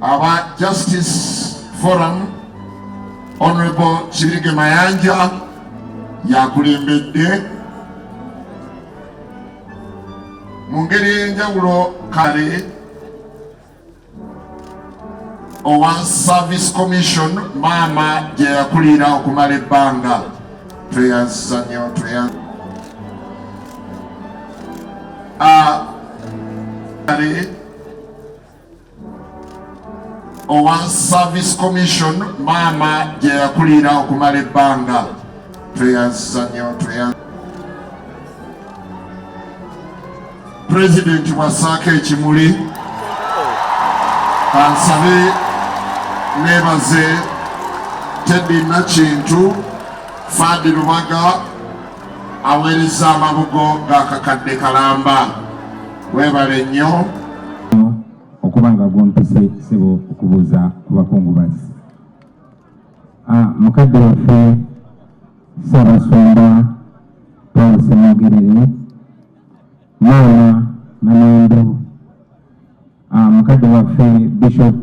aba Justice Forum Honorable Kibirige Mayanja yakulembedde mu ngeri ey'enjawulo kale owa Service Commission maama gye yakulira okumala ebbanga tweyanziza nnyo tweyanziza Ah, owa service commission maama gye yakulira okumala ebbanga tweyanziza nyo pulezidenti bwassaako ekimuli kansabe nebaze teddy nakintu fadi lubaga aweereza amabugo g'akakadde kalamba webale nnyo okuba nga gompise sebo okubuuza ku bakungubazi ah, mukadde waffe sabasumba paul semogerere Maama Namaindu, ah, mukadde waffe Bishop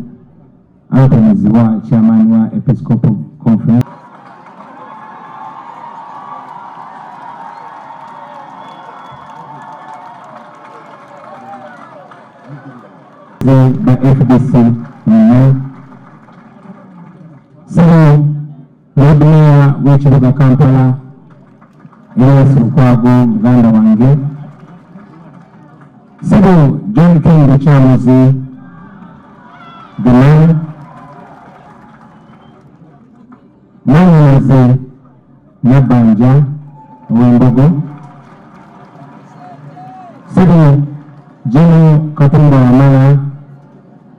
Anthony Zziwa, chairman wa Episcopal Conference. the FDC Lord Mayor w'ekibuga Kampala Erias Lukwago muganda wange Sebo John King Lukyamuzi the man Mwanyinaze Nabanja Owembogo Sebo General Katumba Wamala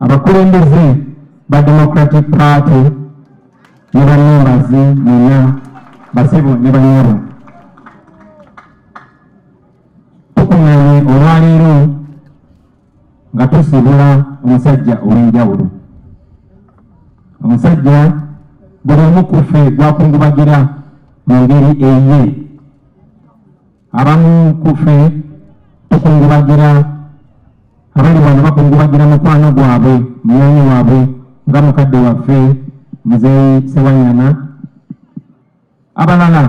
abakulembeze ba democratic party ne bamembazi muna basebo ne banyabo tukuŋŋaanye olwaleero nga tusibula omusajja ow'enjawulo omusajja buli omu ku ffe gwakungubagira mu ngeri eye abamu kufe tukungubagira abali wano bakungubagira mukwano gwabwe munyanya wabwe nga mukadde waffe muzeyi sewanyana abalala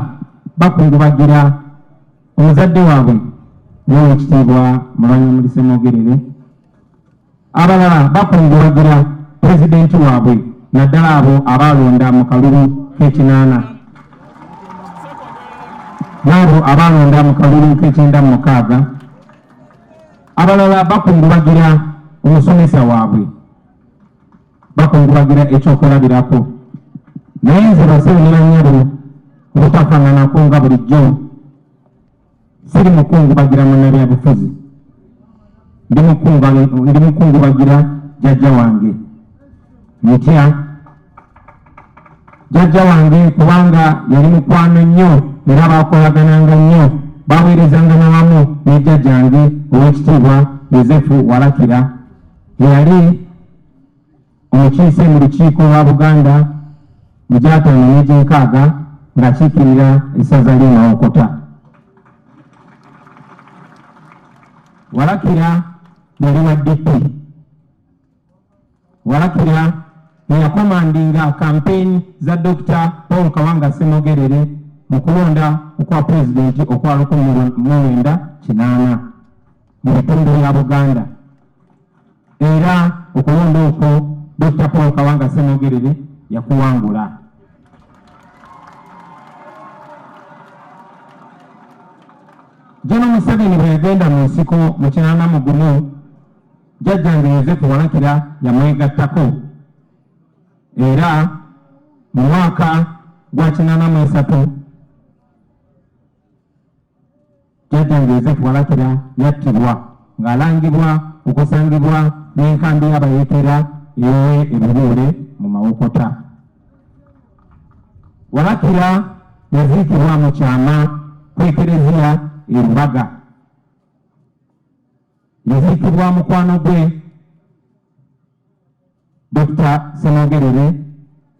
bakungubagira omuzadde waabwe nowekitiibwa mulwanyamulisemogerere abalala bakungubagira pulezidenti waabwe naddala abo abaalonda mu kalulu k'ekinaana n'abo abaalonda mu kalulu k'ekyenda mu mukaaga abalala bakungubagira omusomesa waabwe bakungubagira ekyokulabirako naye nze baseera nanyabo obutafaananako nga bulijjo siri mukungubagira munnabyabufuzi ndi mukungubagira jajja wange mutya jajja wange kubanga yali mukwano nnyo era bakolagananga nnyo baweerezanga nawamu ne jajjange owekitiibwa yosefu walakira eyali omukiise mu lukiiko lwa Buganda mu gyataano n'egyenkaaga ng'akiikirira essaza ly'e Mawokota. Walakira yali wa DP. Walakira eyakomandinga kampeyini za Dokita Paul Kawanga Ssemogerere mu kulonda okwa pulezidenti okwa lukumi mu mwenda kinaana. mu bitundu bya Buganda era okulonda okwo Dokita Paul Kawanga Ssemogerere yakuwangula. Jeno Museveni bwe yagenda mu nsiko mu kinana mu gumu jjajjange Yozefu Walakira yamwegattako era mu mwaka gwa kinana mu esatu Jjajjange Yozefu Walakira yattibwa ng'alangibwa okusangibwa n'enkambi y'abayeekera ewe ebibuule mu Mawokota. Walakira yaziikibwa mu kyama ku ekereziya e Lubaga. Yaziikibwa mukwano gwe Dokita Ssemogerere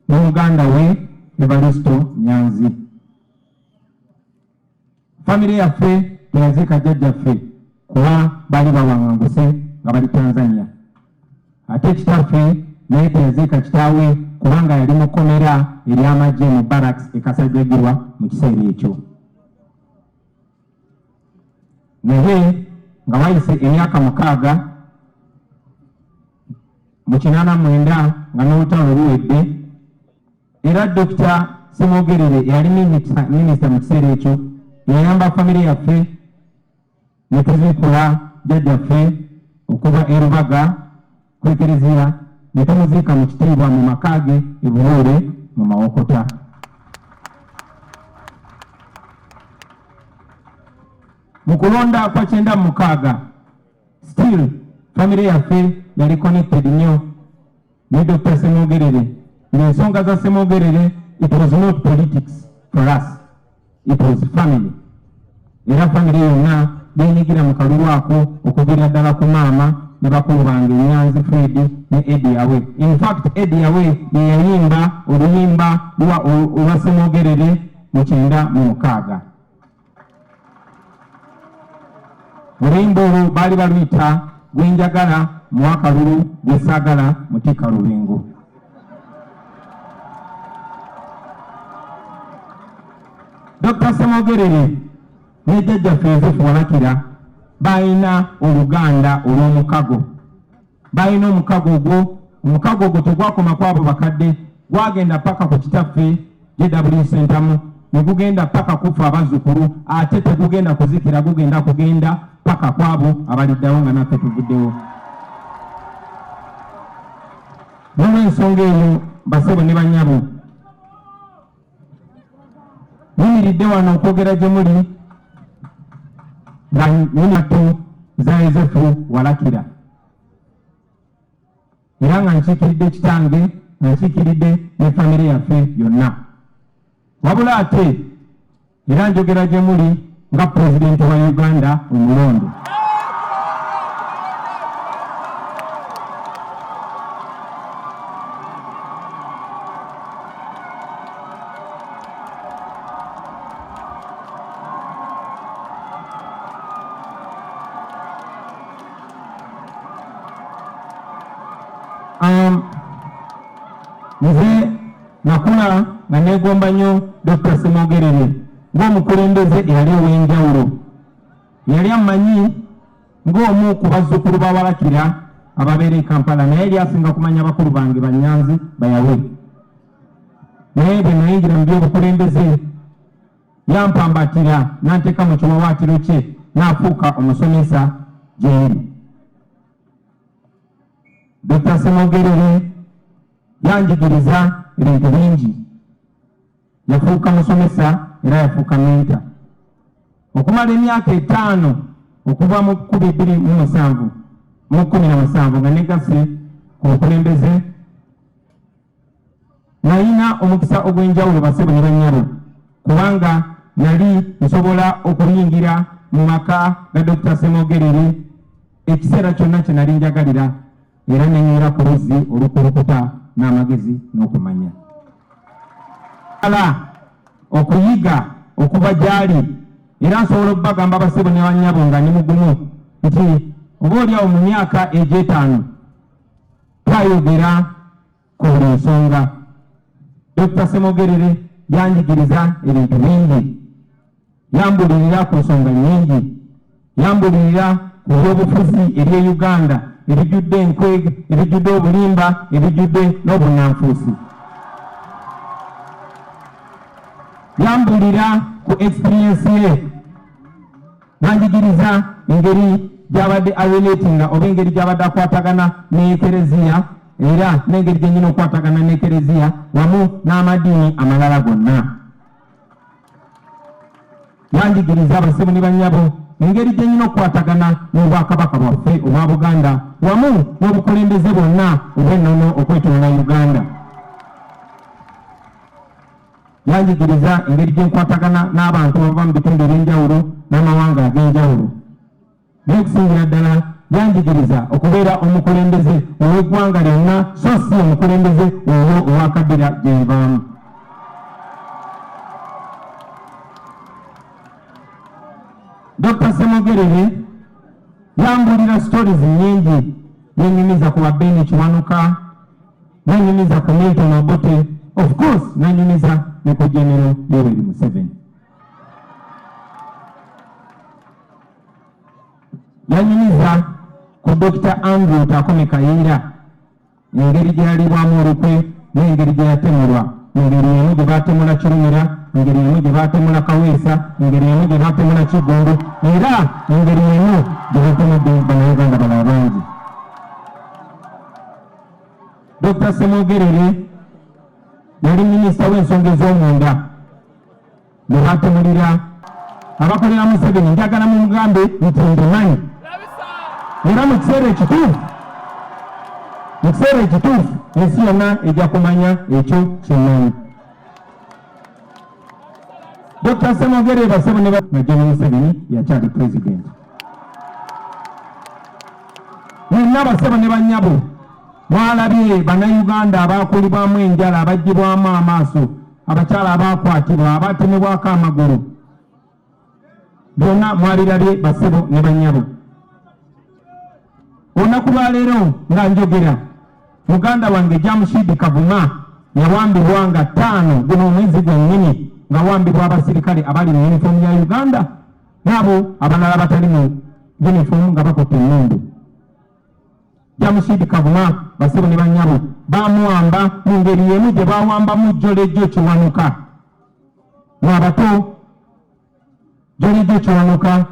ne muganda we Evaristo Nyanzi. Famire yaffe teyaziika jjajjaffe kuba baali bawanganguse nga bali Tanzania. Ate kitaffe naye teyaziika kitaawe kubanga yali mu kkomera ery'amagye mu barracks e Kasajjagirwa mu kiseera ekyo. naye nga wayise emyaka mukaaga mu kinaana mwenda nga n'olutalo luwedde era dokita semwogerere eyali minisita mu kiseera ekyo yayamba famire yaffe ne tuziikula jjajjaffe okuva erubaga ku ekereziya ne tumuziika mu kitiibwa mu maka ge e Buloole mu Mawokota. Mu kulonda kwa kyenda mu mukaaga still famire yaffe yali connected nnyo ne Dr. Ssemwogerere ng'ensonga za Ssemwogerere it was not politics for us. It was family. Era family yonna yenyigira mu kalulu ako okuviira ddala ku maama ne bakulu bange Nyanzi Fred ne Eddie Awe. In fact, Eddie Awe ye yayimba oluyimba olwa Ssemwogerere mu kyenda mu mukaaga. Oluyimba olwo baali baluyita gwe njagala mu akalulu gwe saagala mutikka lubingo. Dr. Ssemogerere ne jjajjaffe Yosefu Walakira balina oluganda olw'omukago balina omukago ogwo omukago ogwo tegwakoma kwabo bakadde gwagenda paka ku kitaffe JW Sentamu ne gugenda paka kufa abazzukulu ate tegugenda kuzikira gugenda kugenda paka kwabo abaliddawo nga naffe tuvuddewo nolwensonga eyo basebo ne banyabo nimiridde wano okwogera gye muli nga nyinatu za yozefu walakira era nga nkiikiridde kitange nga nkiikiridde ne famire yaffe yonna wabula ate era njogera gye muli nga pulezidenti wa uganda omulonde Um, nze nakula nga negomba nnyo Dokita Ssemogerere ng'omukulembeze eyali ow'enjawulo yali amanyi ng'omu ku bazzukulu bawalakira ababeera e Kampala naye yali asinga kumanya bakulu bange Banyanzi bayawe naye bwe nayingira mu by'obukulembeze Yampambatira n'anteeka mu kiwawaatiro kye n'afuuka omusomesa gyeri. Dokita Ssemogerere yanjigiriza ebintu bingi. Yafuuka musomesa era yafuuka menta. Okumala emyaka etaano okuva mu kkumi bbiri mu musanvu mu kkumi na musanvu nga negase ku bukulembeze nalina omukisa ogw'enjawulo basebo ne bannyabo kubanga nali nsobola okuyingira mu maka ga Dokita Ssemogerere ekiseera kyonna kye nali njagalira era nenyera ku luzzi olukulukuta n'amagezi n'okumanya ala okuyiga okuva gy'ali era nsobola okubagamba basebo ne bannyabo nga ni mugumu nti oba olyawo mu myaka egy'etaano Twayogera ku buli nsonga. Dokita Ssemogerere yanjigiriza ebintu bingi, yambulirira ku nsonga nyingi, yambulirira ku byobufuzi eby'e Uganda ebijjudde enkwege, ebijjudde obulimba, ebijjudde n'obunanfuusi. yambulira ku experience ye banjigiriza engeri gyabadde arelatinga oba engeri gyabadde akwatagana n'ekereziya era n'engeri gyenyina okukwatagana n'ekereziya wamu n'amadiini amalala gonna yanjigiriza abasebo ne banyabo engeri gyenyina okukwatagana n'obwakabaka bwaffe obwa buganda wamu n'obukulembeze bwonna obw'ennono okwetoola uganda Yanjigiriza engeri gye nkwatagana n'abantu abava mu bitundu eby'enjawulo n'amawanga ag'enjawulo. Naye okusingira ddala yanjigiriza okubeera omukulembeze ow'eggwanga lyonna so si omukulembeze owo owakaddira gye nvaamu. Dr. Semogerere yambuulira stories nnyingi yenyumiza ku ba Ben Kiwanuka nanyumiza ku Milton Obote of course nanyumiza ne ku General Yoweri Museveni yanyumiza ku Dr. Andrew Takome Kayinda engeri gyeyalibwamu olukwe n'engeri gyeyatemulwa engeri emu gye baatemula Kirumira engeri emu gye baatemula Kaweesa engeri emu gye baatemula Kiggundu era engeri emu gye baatemudde banauganda balala bangi Dokita Ssemwogerere yali minisita w'ensonga ez'omunda ne batumulira abakolera Museveni njagala mu mugambe nti ndimanyi era mu kiseera ekituufu mu kiseera ekituufu ensi yonna ejja kumanya ekyo kyemanyi Dr. Semogere basebo ne Major Museveni yakyali president. Mwenna basebo ne banyabo mwalabye bannayuganda abaakulibwamu enjala abaggyibwamu amaaso abakyala abaakwatibwa abaatemebwako amagulu byonna mwabirabye basebo ne bannyabo olunaku lwaleero nga njogera muganda wange jamushidi kavuma yawambibwa nga ttaano guno omwezi gwennyini ngawambibwa abasirikale abali mu yunifoomu ya uganda naabo abalala batali mu yunifoomu nga bakotta emmundu jamushidi kavuma basebo ne bannyabo bamuwamba mu ngeri yemu gye bawambamu jjolejjo kiwanuka lwabato jolidde kyonoka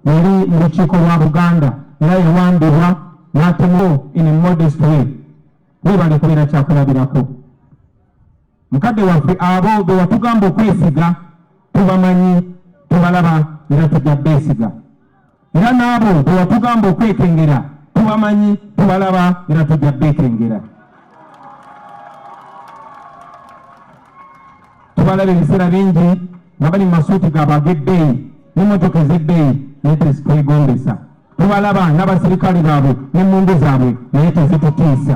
yali mu lukiiko lwa buganda era yawambibwa n'atemu in a modest way webale kubeera kyakulabirako mukadde waffe abo be watugamba okwesiga tubamanyi tubalaba era tujja beesiga era n'abo bwewatugamba okwekengera tubamanyi tubalaba era tujja beekengera tubalaba ebiseera bingi nga bali mu masuuti gaabo ag'ebbeeyi n'emmotoka ez'ebbeeyi naye tezitwegombesa tubalaba n'abaserikale baabwe n'emmundu zaabwe naye tezitutiisa